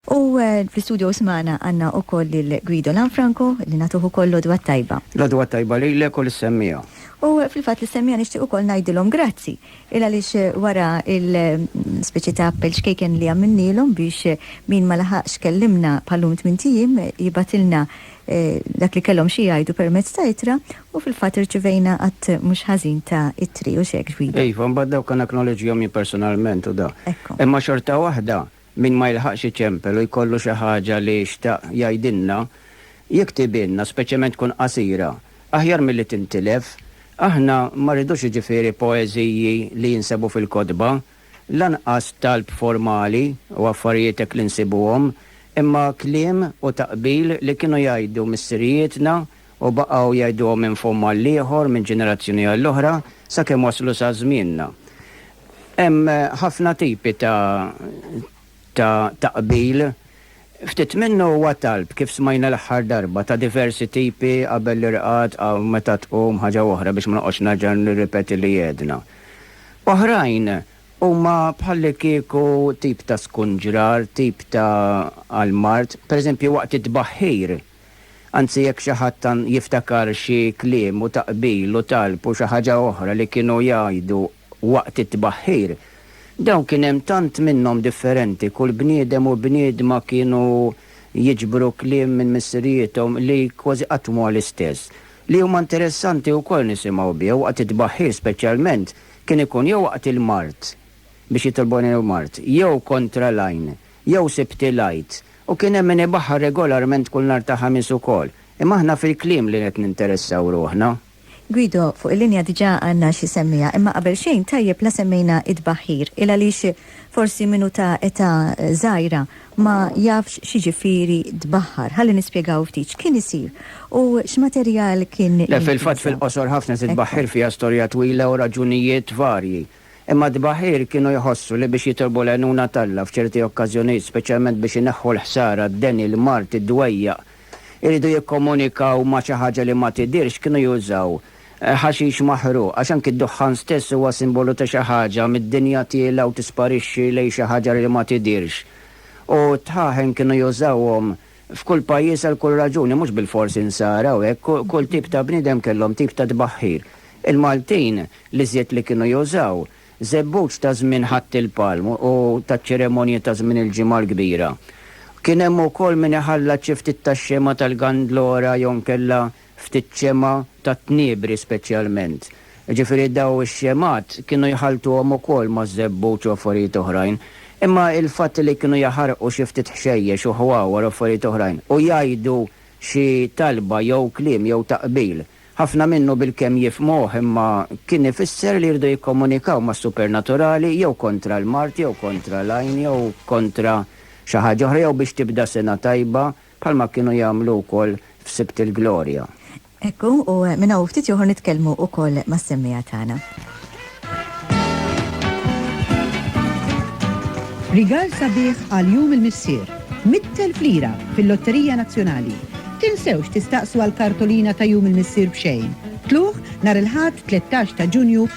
U fl-istudio issa magħna għandna wkoll lil Guido Lanfranco li nagħtuh ukoll l-għodwa t-tajba. L-għodwa t-tajba lilek u lis-semmiegħa. U fil-fatt lis-semmiegħa nixtieq ukoll ngħidilhom grazzi, il għaliex wara l-speċi ta' appell ċkejken li għamilnielhom biex min ma laħaqx kellimna bħal-lum tmint ijiem jibgħatilna dak li kellhom xi jgħidu permezz ta' ittra u fil-fatt irċivejna għadd mhux ħażin ta' ittri, hux hekk Guido? Iva, imbagħad dawk anaknoleġġjahom jien personalment u da. Hekk hu. Imma xorta waħda Min ma jilħaqx iċempel u jkollu xi ħaġa li xtaq jgħidilna, jiktibhielna, speċjalment tkun qasira, aħjar milli tintilef. Aħna ma rridux jiġifieri poeżiji li jinsabu fil-kotba, lanqas talb formali u affarijiet hekk li nsibuhom, imma kliem u taqbil li kienu jgħidu missirijietna u baqgħu jgħiduhom minn fomm għall-ieħor, minn ġenerazzjoni għall-oħra, sakemm waslu sa żmienna. Hemm ħafna tipi ta' ta' ta' qbil. Ftit minnu huwa talb, kif smajna l-aħħar darba, ta' diversi tipi qabel l-irqad, qa meta tqum, ħaġa oħra biex ma noqgħodx nerġa' nirripeti li għedna. Oħrajn huma bħallikieku tip ta' skunġrar, tip ta' għall-mard, pereżempju waqt it-tbaħħir. Anzi jekk xi ħadd jiftakar xi kliem u taqbil u talb u xi ħaġa oħra li kienu jgħidu waqt it-tbaħħir, dawn kien hemm tant minnhom differenti, kull bniedem u bniedma kienu jiġbru kliem minn missirijiethom li kważi qatt mhuwa l-istess, li huma interessanti wkoll nisimgħu bih waqt it-tbaħħir speċjalment kien ikun jew waqt il-mard, biex jitolbu għajnuna lill-mard, jew kontra l-għajn, Jew Sibt il-Għid. U kien hemm min ibaħħar regolarment kull nhar ta' Ħamis ukoll. Imma aħna fil-kliem li qed ninteressaw ruħna. Guido, fuq il-linja diġà għandna xi semmiegħa, imma qabel xejn tajjeb la semmejna t-tbaħħir. Il għaliex forsi min hu ta' età żgħira ma jafx x'jiġifieri tbaħħar. Ħalli nispjegaw ftit x'kien isir u x'materjal kien jintuża. Le, fil-fatt fil-qosor ħafna titbaħħir fiha storja twila u raġunijiet varji. Imma t-tbaħħir kienu jħossu li biex jitolbu l-għajnuna t'Alla f'ċerti okkażjonijiet, speċjalment biex ineħħu l-ħsara, d-deni, l-mard, id-dwejjaq, iridu jikkomunikaw ma' xi ħaġa li ma tidhirx, kienu jużaw ħaxix maħruq, għax anki d-duħħan stess huwa simbolu ta' xi ħaġa, mid-dinja tiela' u tisparixxi lejn xi ħaġa li ma tidhirx. U t-tħaħen kienu jużawhom F'kull pajjiż għal kull raġuni, mhux bilfors insara u hekk, kull tip ta' bniedem kellhom tip ta' tbaħħir. Il-Maltin l-iżjed li kienu jużaw, żebbuġ ta' żmien Ħadd il-Palm u taċ-ċeremonji ta' żmien il-Ġimgħa l-Kbira. Kien hemm ukoll min iħallat xi ftit tax-xema tal-Gandlora jew inkella ftit xemgħa tat-tniebri speċjalment. Jiġifieri dawn ix-xemgħat kienu jħalltuhom ukoll maż-żebbuġ u affarijiet oħrajn. Imma l-fatt li kienu jaħarqu xi ftit ħxejjex u ħwawar u affarijiet oħrajn u jgħidu xi talba jew kliem jew taqbil, ħafna minnu bilkemm jifhmuh imma kien ifisser li jridu jikkomunikaw mas-supernaturali jew kontra l-mard jew kontra l-għajn jew kontra xi ħaġa oħra jew biex tibda sena tajba Bħalma kienu jagħmlu wkoll f'Sibt il-Glorja. Hekk hu, u minn hawn u ftit ieħor nitkellmu wkoll mas-semmiegħa tagħna. Rigal sabiħ għal Jum il-Missier, 100,000 lira fil-Lotterija Nazzjonali. Tinsewx tistaqsu għall-kartolina ta' Jum il-Missier b'xejn. Tlugħ nhar il-Ħadd 13 ta' Ġunju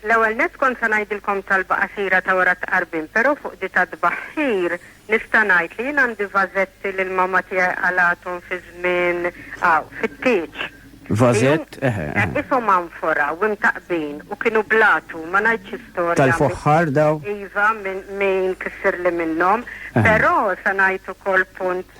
L-ewwel nett kont se ngħidilkom talba qasira ta' wara t-tqarbin, però fuq di tat-tbaħħir nista' ngħid li jien għandi vażetti li l-mamma tiegħi qalgħathom fi żmien, aw, fit-tieġ. Vażett, eħe, eħe. Qishom anfora u imtaqqbin u kienu bl-għatu, ma ngħidx istorja. Tal-foħħar dawn? Iva, min ikissirli minnhom. Però se ngħid ukoll punt.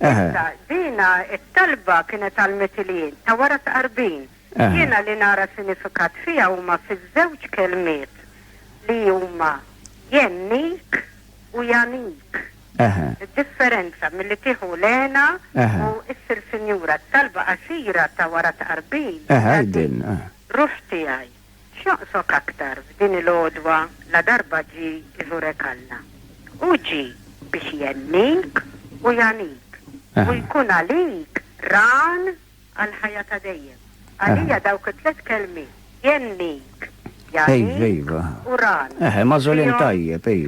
Issa, dina t-talba kienet għall-Mitilien ta' wara t-Tqarbin. Jiena li nara sinifikat fiha huma fiż-żewġ kelmiet li huma jennik u janik. Id-differenza milli tieħu l-hena u issir sinjura. T-talba qasira ta' wara t-Tqarbin hija din, Ruħ tiegħi. X'joqsok aktar f'din il-għodwa ladarba ġie iżurek Alla? Hu ġie biex ihennik u jagħnik u jkun għalik Għan għall-ħajja ta' dejjem. Għalija dawk it-tliet kelmiet, ihennik, jagħnik u Għan,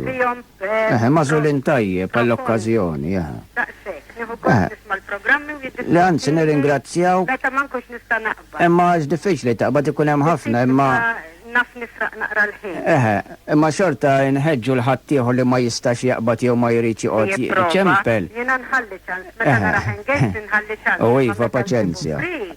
fihom Eħe, magħżulin tajjeb għall-okkażjoni, eħe. Daqshekk, nieħu gost nisma' l-programmi u jiddispeċini li. Le anzi nirringrazzjawk. Meta ma nkunx nista' naqbad. Imma għax diffiċli taqbad ikun hemm ħafna imma. Diffiċli imma naf nisraq naqra l-ħin. Eħe, imma xorta nħeġġu 'l ħaddieħor li ma jistax jaqbad jew ma jridx joqgħod jiċempel. Jipprova. Jiena nħalli ċans. Meta narah engaged inħalli ċans. Imma meta nkun free.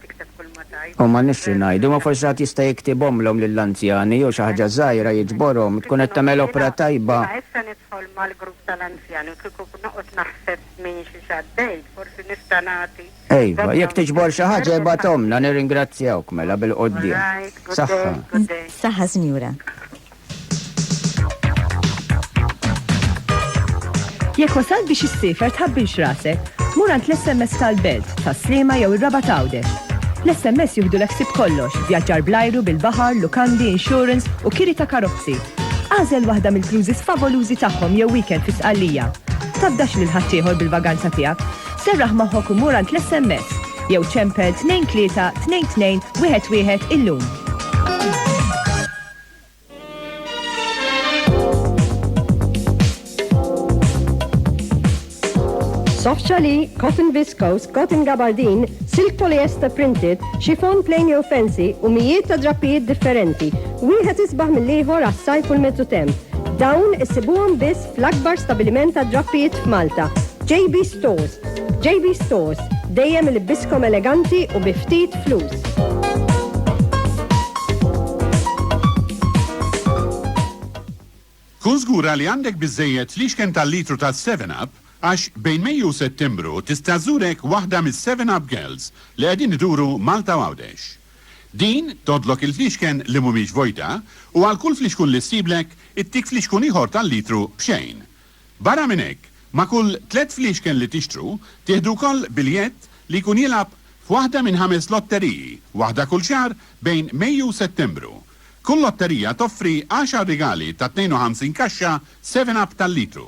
U ma nifx xi ngħidu, imma forsi ħadd jista' jiktibhomlhom lill-anzjani jew xi ħaġa żgħira jiġborhom, tkun qed tagħmel opra tajba. Jiena issa nidħol mal-grupp tal-anzjani u kieku noqgħod naħseb minn xi x'għaddejt, forsi nista' nagħti. Iva, jekk tiġbor xi ħaġa ibgħathomlna nirringrazzjawk mela bil-quddiem. Saħħa. Saħħa, Sinjura. Jekk wasal biex issifer tħabbilx rasek, mur għand l-SMS tal-Belt, tas-Slima jew ir-Raba Tawde. L-SMS jieħdu l-eksib kollox, vjaġġar blajru bil-baħar, lukandi, insurance u kiri ta' karozzi. Għażel waħda mill-cruises favolużi tagħhom jew weekend fi Sqallija. Tabdax lil ħaddieħor bil-vaganza tiegħek. Serraħ magħhok u mur għand l-SMS jew ċempel 23 22 11 illum. Soft challis, cotton viscose, cotton gabardine, silk polyester printed, chiffon plain jew fancy u mijiet ta' drappijiet differenti. Wieħed isbaħ mill-ieħor għas-sajf u l-mezzu temp. Dawn issibuhom biss L-akbar stabiliment għad-drappijiet f'Malta, JB Stores. JB Stores, dejjem ilibbiskom eleganti u bi ftit flus. Kun żgura li għandek biżżejjed fliexken tal-litru ta' 7 Up għax bejn Mejju u Settembru tista' żurek waħda mis-7 Up Girls li qegħdin iduru Malta u Għawdex. Din tgħoddlok il-fliexken li mhumiex vojta u għal kull fliexkun li ssiblek, ittik fliexkun ieħor tal-litru b'xejn. Barra minn hekk, ma' kull tliet fliexken li tixtru, tieħdu wkoll biljett li jkun jilgħab f'waħda minn ħames lotteriji, waħda kull xahar bejn Mejju u Settembru. Kull lotterija toffri għaxar rigali ta' 52 kaxxa Seven Up tal-litru.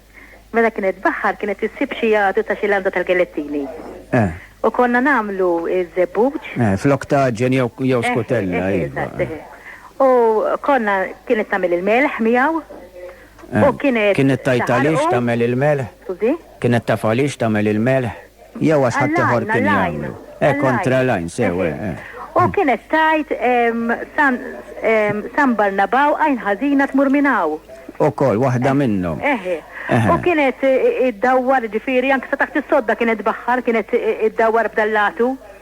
Meta kienet tbaħħar kienet issib xi għadu ta' xi landa tal-gelettini. Eh. U konna nagħmlu ż-żebbuġ. Eh, flok taġen jew jew skutella. Eh, eh, iva. eżatt, eh. U konna kienet tagħmel il-melħ miegħu. U kienet. Kienet tajt għaliex taħarqu. tagħmel il-melħ? Skużi? Kienet taf għaliex tagħmel il-melħ? Jew għax ħaddieħor kien jagħmlu. Eh, kontra l-għajn, sew, eh, eh. U kienet tajt San Barnabaw għajn ħażina tmur minn hawn. Ukoll waħda eh, minnhom. Eħe. Eh, u kienet iddawwar ġifieri anke sa taħt is-sodda kienet baħħar, kienet iddawwar b'dallatu.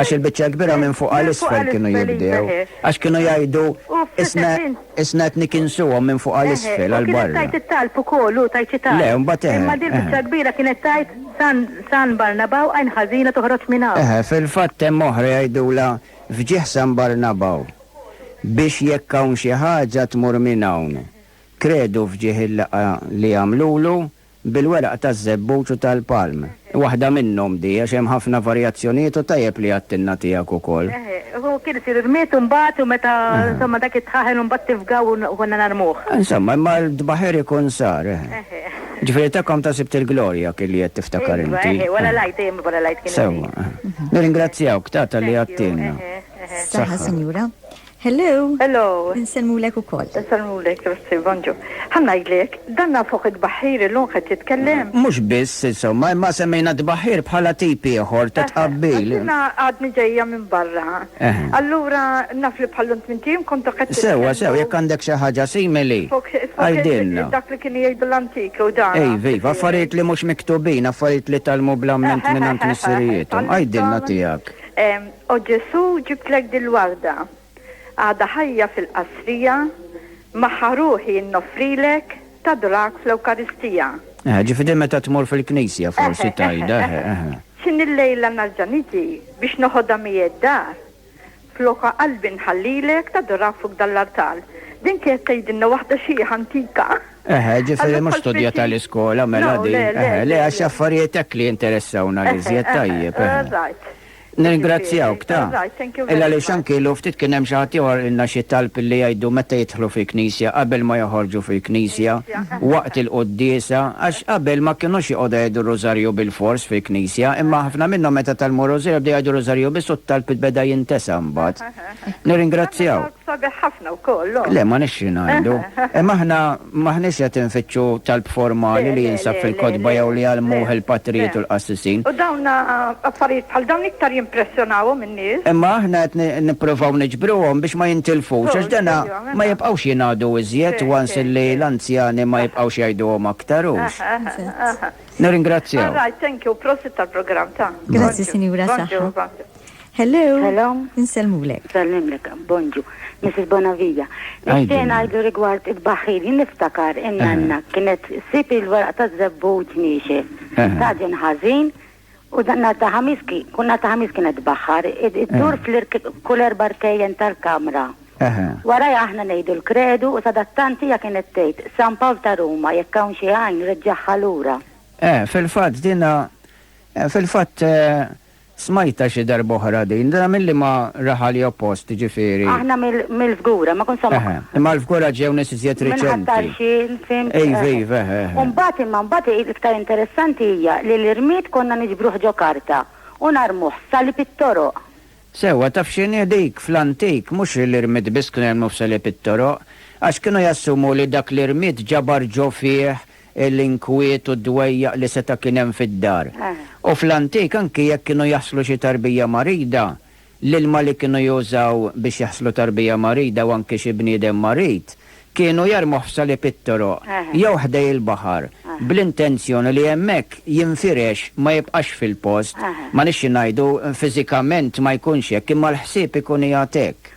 Għax il-biċċa l-kbira minn fuq għal isfel kienu jibdew. Għax kienu jgħidu, Isna, isna qed nikinsuhom minn fuq għal isfel, għal barra. Eħe, u kienet tgħid it-talb ukoll, u tgħid xi talb. Le, mbagħad eħe. Imma din il-biċċa l-kbira kienet tgħid, San, San Barnaba u għajn ħażina toħroġ minn hawn. Eħe, fil-fatt hemm oħra jgħidulha, F'ġieħ San Barnaba u. Biex jekk hawn xi ħaġa tmur minn hawn. Kredu f'ġieħ il-laqgħa li għamlulu, bil-weraq taż-żebbuġ u tal-palm. Waħda minnhom di, għax hemm ħafna varjazzjonijiet u tajjeb li għattilna tiegħek ukoll. Eħe, u kien isir irmied imbagħad u meta, insomma, dak it-tħaħen imbagħad tifgaw u konna narmuh. Insomma, imma l-dbaħir ikun sar, eħe. Eħe. Ġifieri ta' Comta sibt il-glorja kien li qed tiftakar inti. Ejwa, eħe, wara l-Għid, dejjem wara l-Għid kien isir. Sewwa, eħe. Nirringrazzjawk, Tata, li għattilna. Eħe, eħe. Saħħa, Sinjura. Hello! Hello! Insellmulek ukoll. Insellmulek, grazzi, bonġu. Ħa ngħidlek, dan nafuh it-tbaħħir illum qed jitkellem. Mhux biss, insomma, imma semmejna t-tbaħħir bħala tip ieħor ta' tqabbil. Għax jiena għadni ġejja minn barra. Allura naf li bħal lum tmint ijiem kontu qed titkellmu. Sewwa, sewwa, jekk għandek xi ħaġa simili, għidilna. Fuq dak li kienu jgħidu l-antiki u dan. Iva, iva, affarijiet li mhux miktubin, affarijiet li tgħallmu bl-amment mingħand missirijiethom. Għidilna tiegħek. O Ġesù ġibtlek dil-warda. Għadha ħajja fil-qasrija, magħha ruħi nnoffrilek, tadrak fl-Ewkaristija. Eħe, ġifieri meta tmur fil-knisja forsi tgħidha, eħe, eħe. X'inhi llejla nerġa' niġi biex noħodha miegħi d-dar, flokha qalbi nħallilek, tadrak fuq dan l-artal. Din kienet tgħidilna waħda xiħ antika. Eħe, ġifieri mhux studjata l-iskola mela din, eħe, le għax affarijiet hekk li jinteressawna l-iżjed, tajjeb, eħe. Nirringrazzjawk, ta. Il-għaliex anki ilu ftit kien hemm xi ħadd ieħor ilna xi talb illi jgħidu meta jidħlu fil-knisja, qabel ma joħorġu fil-knisja, waqt il-quddiesa, għax qabel ma kinux joqogħdu jgħidu r-rużarju bilfors fil-knisja, imma ħafna minnhom meta tgħallmu r-rużarju bdew jgħidu r-rużarju biss u t-talb beda jintesa' mbagħad. Nirringrazzjawk. Talb sabiħ ħafna wkoll, le? Le, ma nixtri ngħidu. Imma aħna. M'aħniex qed infittxu talb formali li jinsab fil-kotba jew li jgħallmuh il-patrijiet u l-qassisin. U dawn affarijiet bħal dawn iktar jimpressjonawhom in-nies. Imma aħna qed nippruvaw niġbruhom biex ma jintilfux, għax dana ma jibqgħux jingħadu iżjed once illi l-anzjani ma jibqgħux jgħiduhom aktar, hux? Nirringrazzjaw. All right, thank you, prosit tal-programm, ta. Grazzi, Sinjura, saħħa. Hello. Hello. Insellmulek. Sallimlek, Bonġu. Mrs. Bonavija. Nixtieq ngħidu rigward it-baħħir, jien niftakar in-nanna kienet sib il-weraq ta' żebbuġ niexef. Taġen ħażin u dan nhar ta' ħamis ki- kull nhar ta' ħamis kienet tbaħħar, id- iddur fl-irk- kull erba' rkejjen tal-kamra. Wara aħna ngħidu l-kredu u sadattant hija kienet tgħid San Pawl ta' Ruma jekk hawn xi għajn reġġagħha lura. Eh, fil-fatt dina, eh, fil-fatt eh, Smajtha xi darba oħra din. Dana milli ma raha li oppost, jiġifieri. Aħna mill-Fgura, ma kont samgħa. Eħe. Imma l-Fgura ġew nies iżjed reċenti. Minn Ħat-Tarxien, fhimt? Iva, iva, eħe, eħe. U mbagħad imma mbagħad l-iktar interessanti hija li l-irmied konna niġbruh ġo karta u narmuh f'salib it-toroq. Sewwa, taf x'inhi dik? Fl-antik, mhux l-irmied biss kienu jarmuh f'salib it-toroq, għax kienu jassumu li dak l-irmied ġabar ġo fih l-inkwiet u d-dwejjaq li seta' kien hemm fid-dar. U fl-antik anki jekk kienu jaħslu xi tarbija marida, l-ilma li kienu jużaw biex jaħslu tarbija marida u anki xi bniedem marid, kienu jarmuh f'salib it-toroq jew ħdej il-baħar bl-intenzjoni li hemmhekk jinfirex ma jibqax fil-post. Ma nixxi ngħidu fiżikament ma jkunx hekk imma l-ħsieb ikun qiegħed hekk.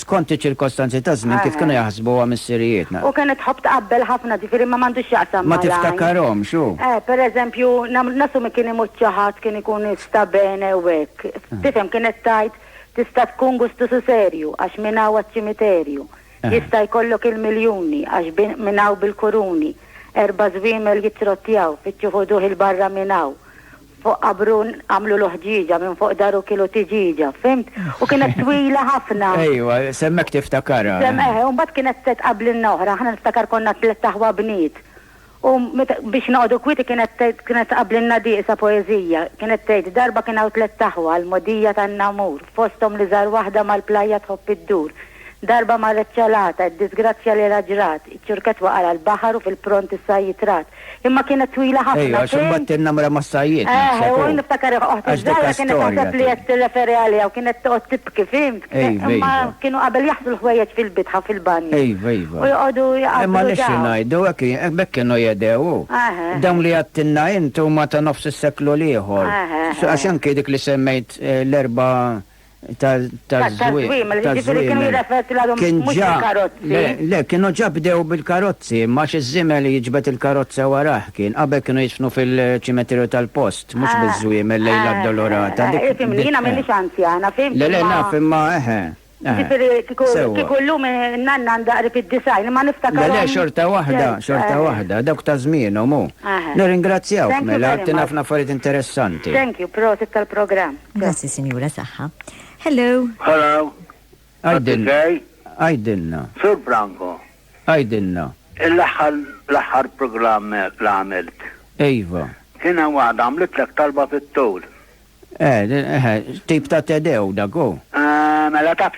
skont iċ-ċirkostanzi taż-żmien kif kienu jaħsbuha missirijietna. U kienet tħobb tqabbel ħafna, ġifieri ma m'għandux x'jaqsam mal-għajn. Ma tiftakarhomx, hu. Eh, per eżempju, nassumi kien imut xi ħadd kien ikun sta bene u hekk. Tifhem, kienet tgħid, tista' tkun gustusu serju għax minn hawn għaċ-ċimiterju. Jista' jkollok il-miljuni għax minn hawn bil-kuruni. Erba' żwiemel jittrottjaw, fittxu ħuduh 'il barra minn hawn. Fuq qabru għamlu l-uħġieġa, minn fuq daru kielu tiġieġa, fhimt? U kienet twila ħafna. Ejwa, semmek tiftakarha. Semm eħe, u mbagħad kienet qed qablinna oħra, aħna niftakar konna tlett aħwa bniet. U meta biex noqogħdu kwieti kienet tgħid kienet tqabblilna dieqsa poeżija, kienet tgħid, Darba kien hawn tlett aħwa, l-mogħdija tan-Namur, fosthom l-iżgħar waħda mal-plajja tħobb iddur, Darba marret ċelata, id-diżgrazzja li ra ġrat, iċ-ċurkett waqa' għal baħar u fil-pront is-sajjied rat. Imma kienet twila ħafna fejn. Ejja, għax imbagħad in-nemra mas-sajjied naħseb hu. Eħe, u niftakar oħti ż-żgħira kienet taħseb li qed tirreferi għaliha u kienet toqgħod tibki, fhimt? Ejva, ejva. Imma kienu qabel jaħslu l-ħwejjeġ fil-bitħa fil-banju. Ejva, ejva. U joqogħdu jaqabblu dawn. Imma li xi ngħidu, hekk hi, b'hekk kienu jehdew hu. Eħe. Dawn li għedtilna int huma ta' nofs is-seklu l-ieħor. Eħe, eħe. Għax anki dik li semmejt l-erba' taż-żwiemel, jiġifieri kienu jirrefertu għalihom mhux bil-karozzi. Le, kienu ġa bdew bil-karozzi, imma għax iż-żiemel li jiġbed il-karozza warajh kien, qabel kienu jidfnu fil-ċimeterju tal-post, mhux biż-żwiemel lejl l-Addolorata. Dik. Ifhimni, jiena m'iniex anzjana, fhimt? Le, le, naf, imma eħe. Jiġifieri kieku llum in-nanna għandha qrib id-90, imma niftakar. Le, le, xorta waħda, xorta waħda, dawk ta' żmienhom hu. Nirringrazzjawk mela, għedtilna ħafna affarijiet interessanti. Thank you, prosit tal-programm. Grazzi, Sinjura Saħħa. Hello. Hello. Għajdilna. Sur Branko. Għajdilna. Il-aħħar l-aħħar programm li għamilt. Ejva. Kien hemm waħda għamlitlek talba fit-tul. Eh, eh, eh, tip ta' tedew dago. Eh, mela taf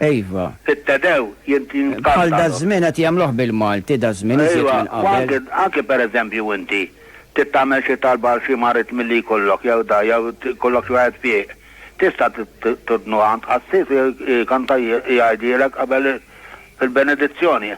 Iva. Sitta dew jintqantalu. Bħal daż-żmien qed jagħmluh bil-Malti daż-żmien iżjed minn qabel. Iva, u anki, anki per eżempju inti trid tagħmel xi talba għal xi marid milli jkollok jew da, jew jkollok xi waħed fih, tista' turdnuha għand qassis u jkanta jgħidhielek qabel il-benedizzjoni.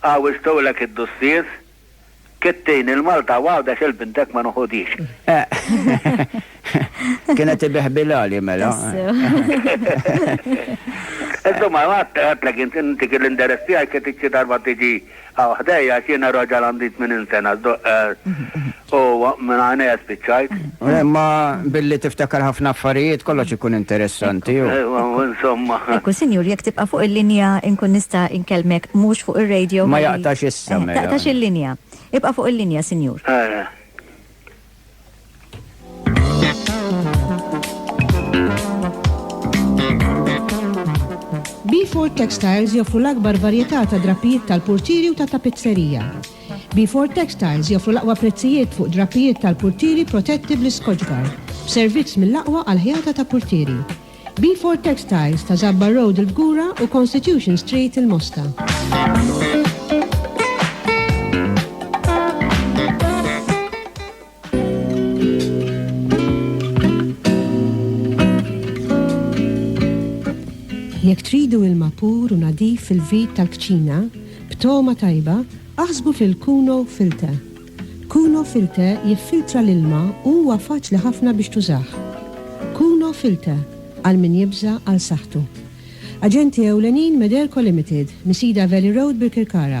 Għawwġtulek id-dussies, kittini l-Malta u għawdex il-bintek ma nuħudhiex. Eh. Kienet ibihbilali mela. Insomma, għat għatlek int inti kien l-inderess tiegħi kien tixxi darba tiġi għaw ħdejja għax jiena raġel għandi 80 sena. U minn għajnejha spiċċajt. Imma billi tiftakar ħafna affarijiet kollox ikun interessanti hu. Ejwa, u insomma. Ekku, Sinjur, jekk tibqa' fuq il-linja inkun nista' inkellmek mhux fuq ir-radio ħalli. Ma jaqtax issa mela. Taqtax il-linja. Ibqa' fuq il-linja, Sinjur. Ejja. Beefort Textiles joffru l-akbar varjetà ta' drappijiet tal-purtieri u ta' tapizzerija. Beefort Textiles joffru l-aqwa prezzijiet fuq drapijiet tal-purtieri protetti bl-Iskoċbar, b'servizz mill-aqwa għall-ħjata ta' purtieri. Beefort Textiles ta' Żabbar Road il-Fgura u Constitution Street il-Mosta. Jekk tridu ilma pur u nadif fil-vit tal-kċina, b'togħma tajba, aħsbu fil-Kuno Filter. Kuno Filter jiffiltra l-ilma u huwa faċli ħafna biex tużah. Kuno Filter, għal min jibża' għal saħħtu. Aġenti ewlenin Mederco Limited, Nisida Valley Road, Birkirkara.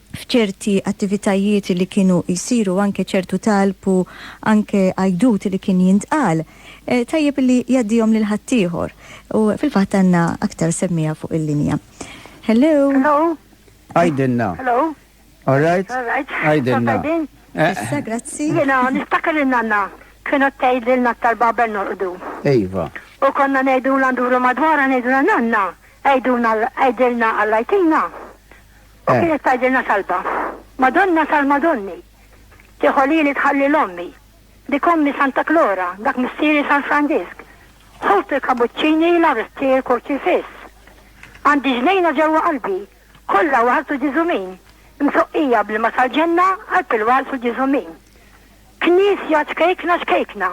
f'ċerti attivitajiet li kienu jsiru, anke ċertu talb u anke għajdut li kien jintqal, tajjeb li jgħaddihom lil ħaddieħor. U fil-fatt għandna aktar semmiegħa fuq il-linja. Hello? Għidilna. All right? Għidilna. Issa, grazzi. Jiena niftakar li nanna kienu tgħidilna aktar babel norqdu. Iva. U konna ngħidulha nduru madwarha ngħidulha nanna, għidulna għidilna għallajtina. U kienet tgħidilna talba, Madonna tal-Madonni, tieħu lili tħalli l-ommi, dik ommi Santa Klora, dak missieri San Franġisk, ħut il-kabuċċini la rttir kurċifiss. Għandi ġnejna ġewwa qalbi, kollha waħal su ġiżumin, msoqqija bl-ilma tal-ġenna għal pilwal su ġiżumin. Knisja ċkejkna ċkejkna,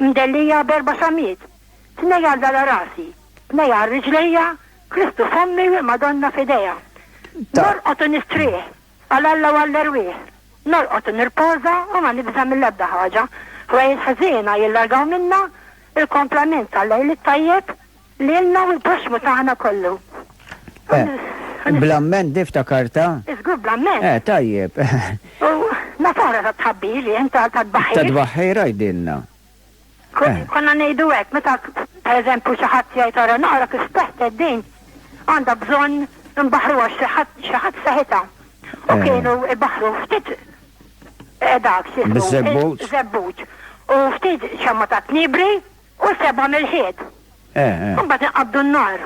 mdellija berba xamiet, tnej għal dala rasi, tnej għal riġlejja, Kristu f'ommi u l-Madonna f'idejha. Norqod u nistrieħ għal Alla u għall-erwieħ. Norqod u nirpoża u ma nibża' mill-ebda ħaġa. Ħwejjeġ ħżiena jillargaw minna, il-komplament tal-lejl it-tajjeb lilna u l-proxxmu tagħna kollu. Bl-amment niftakar ta'. Iżgur bl-amment. Eh, tajjeb. U nafara ta' tħabbir li inta ta' tbaħħir. Ta' tbaħħir għajdilna. Konna ngħidu hekk meta pereżempju xi ħadd jgħid ara naqra kif teħted din għandha bżonn imbaħruha xi ħadd xi ħadd seħitha. U eh. kienu ibaħru ftit eh, dak xi żebbuġ. Żebbuġ. U ftit xemma ta' tnibri u seba' mill-ħied. Eh, Mbagħad inqabdu n-nar.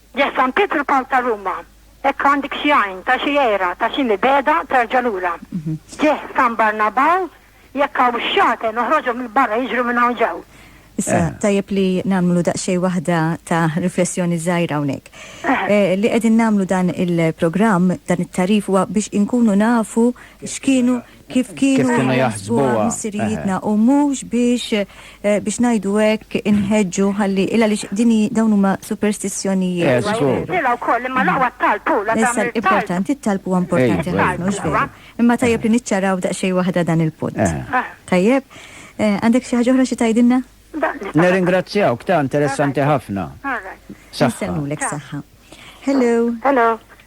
Ġa San Pietru Pawl ta' Ruma, hekk għandek xi għajn, ta' xi għira, ta' xi mibegħda terġa' lura. Ġieh San Barnabaw, jekk hawn xaten oħroġhom 'il barra jiġru minn hawn ġew. Issa, tajjeb li nagħmlu daqsxejn waħda ta' riflessjoni żgħira hawnhekk. Li qegħdin nagħmlu dan il-programm, dan it-tagħrif huwa biex inkunu nafu x'kienu, kif kienu jaħsbuha missirijietna u mhux biex biex ngħidu hekk inħeġġu ħalli il għaliex din hi dawn huma superstizzjonijiet. Eh, żgur. Nilha wkoll imma l-aqwa t-talb hu la Issa tagħmel talb. l-importanti t-talb huwa importanti Ejwa, ħafna mhux vera. Imma tajjeb li niċċaraw daqsxejn waħda dan il-punt. Eh. Tajjeb? Eh, Għandek xi ħaġa oħra xi tgħidilna? Da, nista' Nirringrazzjawk ta' interessanti ħafna. All right. Saħħa. Nistennulek saħħa. Hello. Hello.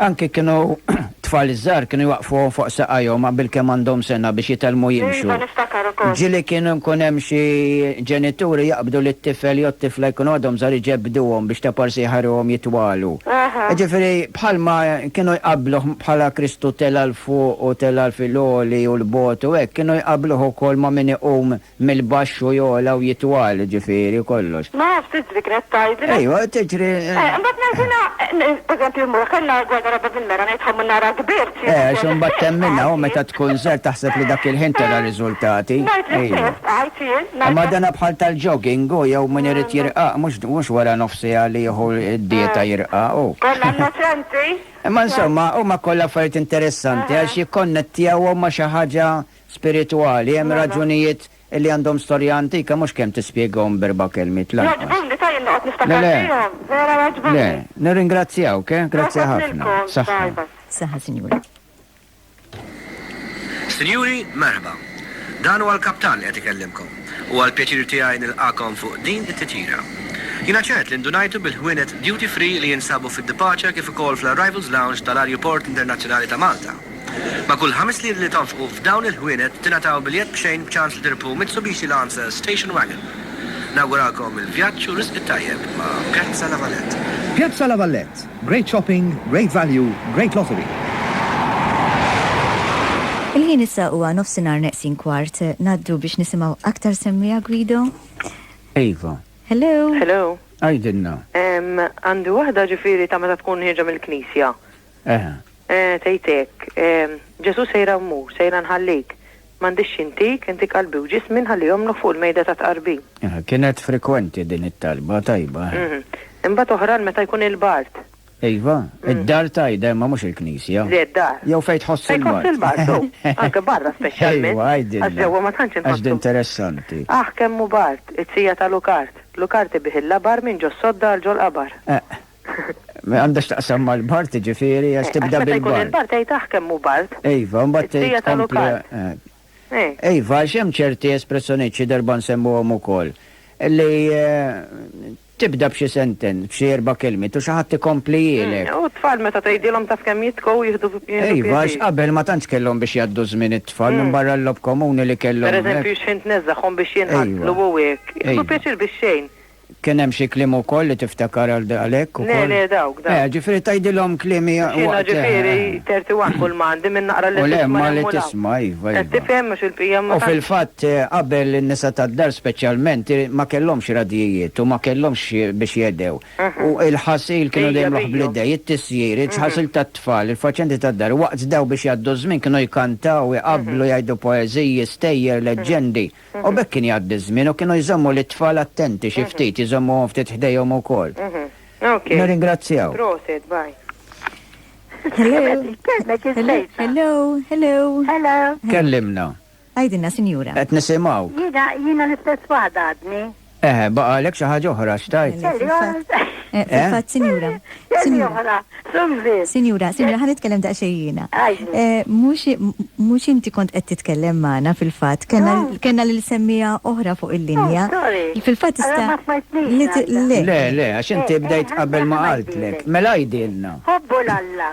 Anki kienu t-tfal iż-żgħar kienu jwaqqfuhom fuq saqajhom qabel kemm għandhom sena biex jitgħallmu jimxu. Iva, niftakar ukoll. Ġieli kienu nkun hemm xi ġenituri jaqbdu li t-tifel jew t-tifla jkunu għadhom żgħar iġebbduhom biex ta' parsi jħarruhom jitwalu. Jiġifieri bħalma kienu jqabbluh bħala Kristu tela' 'l fuq u tela' fil-għoli u 'l bogħod u hekk, kienu jqabbluh ukoll ma' min iqum Mill-baxx u jogħla u jitwal, jiġifieri kollox. Ma nafx, tiġri, kienet tgħidli. Ejwa, tiġri. Eh, imbagħad ngħid jiena, eh, pereżempju mmur, kellna gwerra rabba bil-mera, ngħid ħa mmur nara kbirt xi. Eh, għax imbagħad temminha u meta tkun żgħir taħseb li dak il-ħin tara riżultati. Ngħid li ħsieb, għidt jien. Imma dana bħal tal-jogging hu jew min irid jirqaq mhux mhux wara nofs siegħa li jieħu d-dieta jirqaq hu. Konna innoċenti. Imma insomma huma kollha affarijiet interessanti għax jikkonnettjawhom ma' xi ħaġa spiritwali, hemm raġunijiet li għandhom storja antika mhux kemm tispjegahom b'erba' kelmiet lanqas. Jogħġbuni ta' jien noqgħod niftakar fihom, vera jogħġbuni. Le, nirringrazzjawk, eh, grazzi ħafna. Saħħa. Saħħa, Sinjura. Sinjuri, merħba. Dan huwa l-Kaptan li qed ikellimkom. Huwa l-pjaċir tiegħi nilqagħkom fuq din it-titjira. Jiena ċert li ndunajtu bil-ħwienet duty free li jinsabu fid-departure kif ukoll fl-arrivals lounge tal-Arjuport Internazzjonali ta' Malta. Ma' kull ħames liri li tonfqu f'dawn il-ħwienet tingħataw biljett b'xejn b'ċans li tirpu Mitsubishi Lancer Station Wagon. Nawguralkom il-vjaġġ u riżq it-tajjeb ma' Piazza La Vallette. Piazza La Vallette, great shopping, great value, great lottery. Il-ħin issa huwa nofsinhar neqsin kwart. Ngħaddu biex nisimgħu aktar semmiegħa Guido. Iva. Hello. Hello. Għidilna. Għandi waħda ġifieri ta' meta tkun ħierġa mill-knisja. Eh. Eh, tgħid hekk. Eh, Ġesù sejra mmur, sejra nħallik. M'għandix xi ntik, intik qalbi u ġismi nħalli jomlugħ fuq il-mejda tat-tqarbin. Eh, kienet frekwenti din it-talba tajba. Mhm. Imbagħad oħran meta jkun il-bart. Iva, mm. id-dar tajda ma mhux il-knisja. Le d-dar. Jew fejn tħoss il-bar. Fejn il-bar, anke barra speċjalment. Iva, għajdin. Għax ġewwa ma tantx inħoss. Għax interessanti. Aħ kemm hu bart, it-sija ta' Lukart. Lukart ibiħilla bar minn ġo sodda għal ġol qabar. Eh. Ma għandha x'taqsam mal-bart, ġifieri għax tibda bil-bart. Meta jkun il-bart tgħid aħ kemm hu bart. Iva, mbagħad tgħid. Id-dija tal-Lukard. Iva, għax hemm ċerti espressjonijiet xi darba nsemmuhom ukoll li tibda b'xi senten, b'xi erba' kelmiet u xi ħadd ikompli jgħinek. U t-tfal meta tgħidilhom taf kemm jitkow jieħdu pjena. Iva, għax qabel ma tantx kellhom biex jgħaddu żmien it-tfal minn barra l-logħob komuni li kellhom. Pereżempju x'ħin tneżżagħhom biex jinqatlu u hekk. Jieħdu pjaċir bix-xejn. Kien hemm xi kliem ukoll li tiftakar għal għalhekk ukoll? Le, le, dawk, dawk. Eh, ġifieri tgħidilhom kliem hija Għax jiena ġifieri waqt. 31 kull ma għandi minn naqra lil U le, tisma' ma hemm li u law. tisma', iva, Qed iva. tifhem għax il-bqija ma U tantx. fil-fatt, qabel in-nisa tad-dar speċjalment i ma kellhomx radjijiet u ma kellhomx biex jegħdew. U l-ħasil kienu dejjem jagħmluh bl-idejn, it-tisjir, il-ħasil tat-tfal, il-faċendi tad-dar. U waqt dawn biex jgħaddu ż-żmien kienu jkantaw, iqabblu, jgħidu poeżiji, stejjer, leġġendi. U b'hekk kien jgħaddi ż-żmien u kienu jżommu lit-tfal attenti xi ftit, jżommuhom ftit ħdejhom ukoll. Nirringrazzjaw. Prosit, bye. Hello. Hello. Hello. Hello. Kellimna. Għidilna, Sinjura. Qed nisimgħu. Jiena, jiena l-istess waħda għadni. Eħe, baqgħalek xi ħaġa oħra x'tgħid? Le, fil-fatt, eh, fil-fatt, sinjura, sinjura. Sinjura, sinjura, ħa nitkellem daqsxejn jiena. Eh, mhux mhux inti kont qed titkellem magħna fil-fatt, kellna kellna lil semmija oħra fuq il-linja. Fil-fatt tista' li ti- le. Le, le, għax inti bdejt qabel ma qaltlek. Mela għidilna. Ħobbu l-Alla.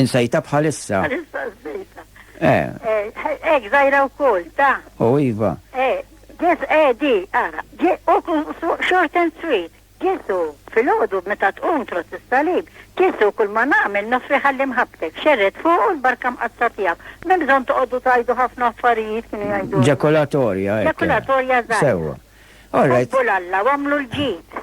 Insejta bħalissa. Bħalissa nsejta. Eh. eh ek, zajra u kol, ta. U iva. Eh, ġes, eh, di, ara, u short and sweet. Ġesu, fil-ħodu meta tqum trot is-salib, Ġesu kull ma nagħmel nofri ħalli mħabbtek, xerret fuq u l-barka mqatta tiegħek. Minn bżonn toqgħodu tajdu ħafna affarijiet kienu jgħidu. Ġakolatorja. Ġakolatorja żgħar. Sewa. All right. Alla, għamlu l-ġid.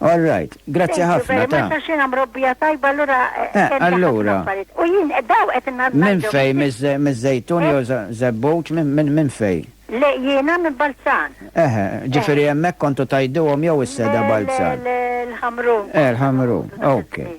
All right, grazzi ħafna ta. Ma xina mrobbija tajba allura. Eh, eh, eh, allura. U jien daw qed innazna. Minn fej miż-żejtun jew żebbut minn fej? Le jiena minn Balzan. Eħe, ġifieri hemmhekk kontu tajduhom jew is-seda Balzan. L-ħamru. Eh, l-ħamru. Okay.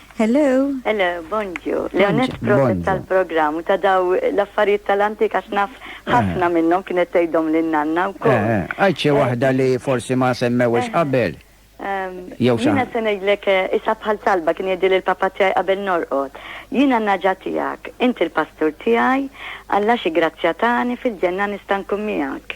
Hello! Hello, bonġu. Leonette proset tal-programm u ta' daw l-affarijiet tal-antik għax naf ħafna minnhom kienet tgħidhom lil nanna wkoll. Għid xi waħda li forsi ma semmewhiex qabel. Jew xi Jiena se ngħidlek isa bħal talba kien jgħidli l-papa tiegħi qabel norqod. Jiena n-naġa tiegħek, inti l-pastur tiegħi, Alla xi grazzja tani fil-ġenna nista' nkun miegħek.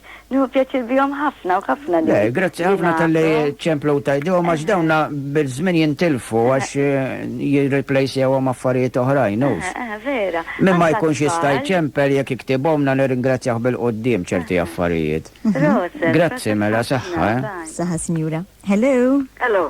Nieħu pjaċir bihom ħafna u ħafna li. Le, grazzi ħafna talli ċemplu u tgħidihom għax dawna bil-żmien jintilfu għax jirriplejsjawhom affarijiet oħrajn, hux? Vera. Min ma jkunx jista' jċempel jekk iktibhomlna nirringrazzjah bil-quddiem ċerti affarijiet. Proset. Grazzi mela, saħħa, eh. Saħħa, Sinjura. Hello. Hello.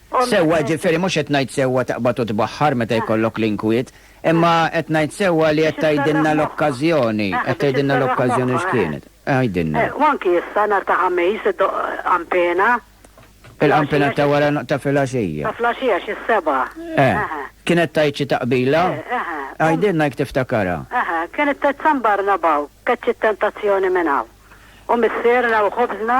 Sewwa, jiġifieri mhux qed ngħid sewwa taqbad u tbaħħar meta jkollok l-inkwiet, imma qed ngħid sewwa li qed tgħidilna l-okkażjoni, qed tgħidilna l-okkażjoni x'kienet. Għidilna. U anki issa nhar ta' Ħamis iddoqq qampena. Il-qampena ta' wara ta' filgħaxija. Ta' flgħaxija xi s-sebgħa. Eh. Kienet tgħid xi taqbila? Għidilna jekk tiftakarha. Eħe, kienet tgħid San Barnabaw, keċċi t-tentazzjoni minn hawn. U missierna u ħobżna.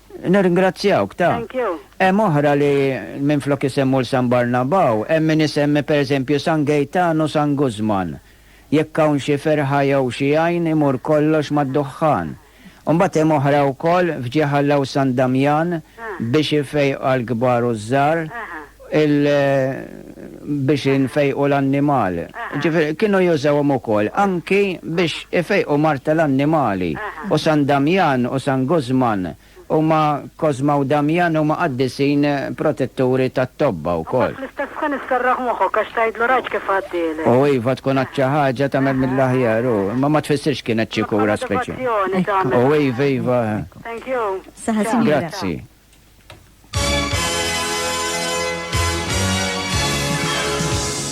Nirringrazzjawk, ta. Thank you. Hemm oħra li minflok isemmu 'l San Barnabaw, hemm min isemmi per eżempju San Gejtan u San Guzman. Jekk hawn xi ferħa jew xi għajn imur kollox mad-duħħan. U mbagħad hemm oħra wkoll f'Ġieħalla u San Damjan biex ifejqha l-kbar u ż-żgħar. il biex infejqu l-annimal. Ġifieri kienu jużawhom ukoll anki biex ifejqu mard tal-annimali. U San Damjan u San Guzman huma Kosma u Damjan huma qaddisin protetturi tat-tobba wkoll. Imbagħad fl-istess ħin isserraħ moħħok għax tgħidlu rajt kif għaddieli. U iva tkun għad xi ħaġa tagħmel mill-aħjar u imma ma tfissirx kienet xi kura speċjali. Bħala devozzjoni tagħmel. U iva iva. Thank you. Saħa sinjura. Grazzi.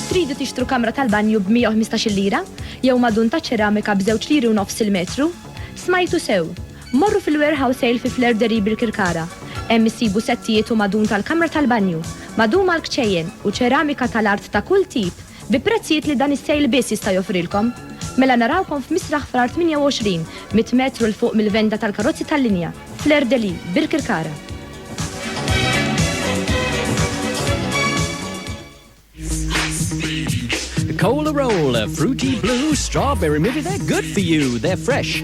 Tridu tixtru kamra tal-banju b-115 lira? Jew madun ta' ċeramika b'żewġ liri u nofs il-metru? Smajtu sew! Morru fil-warehouse sale fi Flair Deri bil-Kirkara. Hemm issibu settijiet u madun tal-kamra tal-banju, madum għal kċejjen u ċeramika tal-art ta' kull tip bi prezzijiet li dan is-sale biss jista' joffrilkom. Mela narawkom f'Misraħ Frar 28, mitt metru 'l fuq mill-venda tal-karozzi tal-linja, Fleur de Lis, Birkirkara. Cola Roll, Fruity Blue, Strawberry Maybe they're good for you, they're fresh.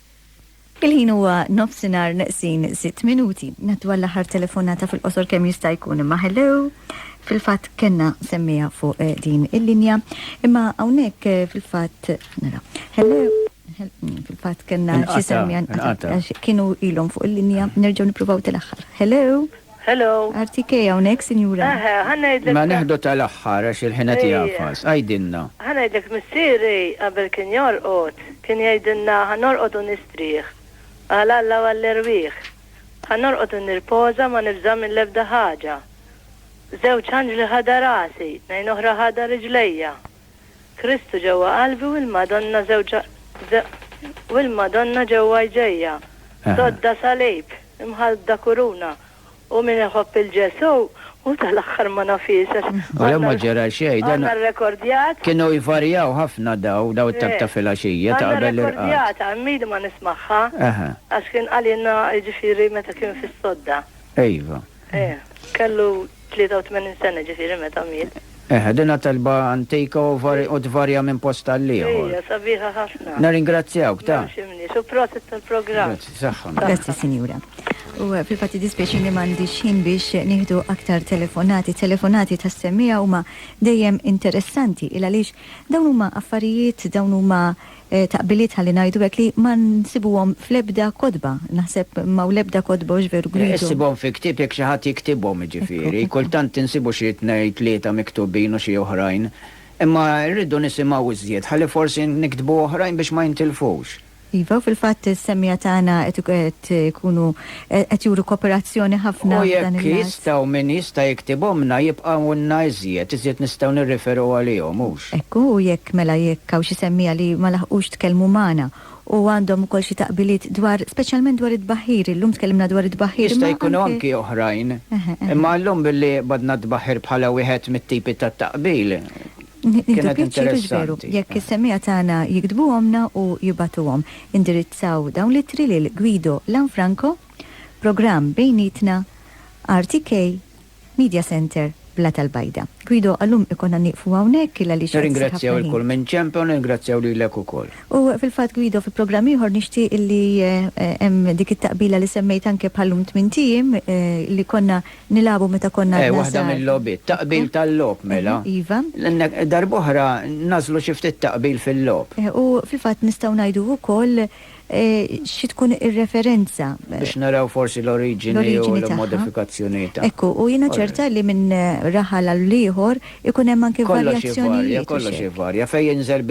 Il-ħin huwa nofsinhar neqsin sitt minuti. Ngħaddu għall-aħħar telefonata fil-qosor kemm jista' jkun imma hello. Fil-fatt kellna semmiha fuq eh, din il-linja, imma hawnhekk eh, fil-fatt nara. Hello. Mm, fil-fatt kellna xi semmija kienu ilhom fuq il-linja, nerġgħu nippruvaw tal-aħħar. Hello. Hello. RTK hawnhekk, sinjura. Eħe, ħa ngħidlek. Ma neħdu tal-aħħar għax il-ħin qed jagħfas. Għidilna. Ħa ngħidlek missieri qabel kien jorqod, kien jgħidilna ħa norqod u nistrieħ għal Alla u għall-erwieħ. Ħa norqod u nirpoża ma nibża' mill-ebda ħaġa. Żewġ anġli ħadha rasi, tnejn oħra ħadha riġlejja. Kristu ġewwa qalbi u l-Madonna żewġha u l-Madonna ġewwa jdejja, sodda salib, imħallda kuruna, u min iħobb il Ġesù hu tal-aħħar ma nafhiex għax għandna rrekordjat. Kienu jvarjaw ħafna daw, daw it-tap ta' filgħaxija ta' qabel l-irqad. Għandna rrekordjata, hemm ili ma nismagħha, għax kien qalilna jiġifieri meta kien fis-sodda. Iva. Eh, kellu 83 sena ġifiri meta miet. Eh, din talba antika u tvarja minn post għal ieħor. Ija, sabiħa ħafna. Naringrazzjawk ta'. Ximni, u prosit tal-programm. Grazzi, saħħa. Grazzi, sinjura. U eh, fil-fatti dispieċi li mandi xin biex nieħdu aktar telefonati. Telefonati ta' semmija huma dejjem interessanti il għaliex dawn huma affarijiet, dawn huma taqbiliet ħalli ngħidu hekk li ma nsibuhom fl-ebda kotba. Naħseb m'hawn l-ebda kotba, hux veru Guido? Issibhom fi ktieb jekk xi ħadd jiktibhom, jiġifieri. Kultant insibu xi tnejn tlieta miktubin u xi oħrajn. Imma rridu nisimgħu iżjed ħalli forsi niktbu oħrajn biex ma jintilfux. Iva, u fil-fatt is-semmiegħa tagħna qed ikunu qed juru koperazzjoni ħafna f'dan il-lat. U jekk jistgħu, min jista' jiktibhomlna, jibqgħulna iżjed, iżjed nistgħu nirriferu għalihom, hux? Hekk hu, u jekk, mela jekk hawn xi semmiegħa li ma laħqux tkellmu magħna u għandhom ukoll xi taqbiliet dwar, speċjalment dwar it-tbaħħir, illum tkellimna dwar it-tbaħħir, imma anke. Jista' jkunu anki oħrajn. Imma llum billi qbadna t-tbaħħir bħala wieħed mit-tipi tat-taqbil. Nieħdu pjaċir biex veru, jekk is-semmiegħa tagħna jiktbuhomlna u jibagħtuhom. Indirizzaw dawn l-ittri lil Guido Lanfranco, Programm Bejnietna, RTK, Media Centre, Blat Al-Bajda. Guido, għal-lum ikollna nieqfu hawnhekk il għaliex qed isir ħafna ħin. Nirringrazzjaw 'il kull min ġenbna u nirringrazzjaw lilek ukoll. U fil-fatt Guido fi programm ieħor nixtieq li hemm dik it-taqbila li semmejt anke bħal-lum tmint ijiem li konna Nilagħbu meta konna għadna żgħar. Eh, waħda mil-logħbiet. Taqbil tal-logħob, mela. Iva. Darb'oħra nagħżlu xi ftit taqbil fil-logħob. Eh, u fil-fatt nistgħu ngħidu wkoll eh, xi tkun ir-referenza. Biex naraw forsi l-oriġini u l-modifikazzjoni tagħha. Ekku, u jiena ċerta li minn raħal għal ieħor ikun hemm anke varjazzjonijiet. Kollox jivarja, kollox jivarja. Fejn jinżel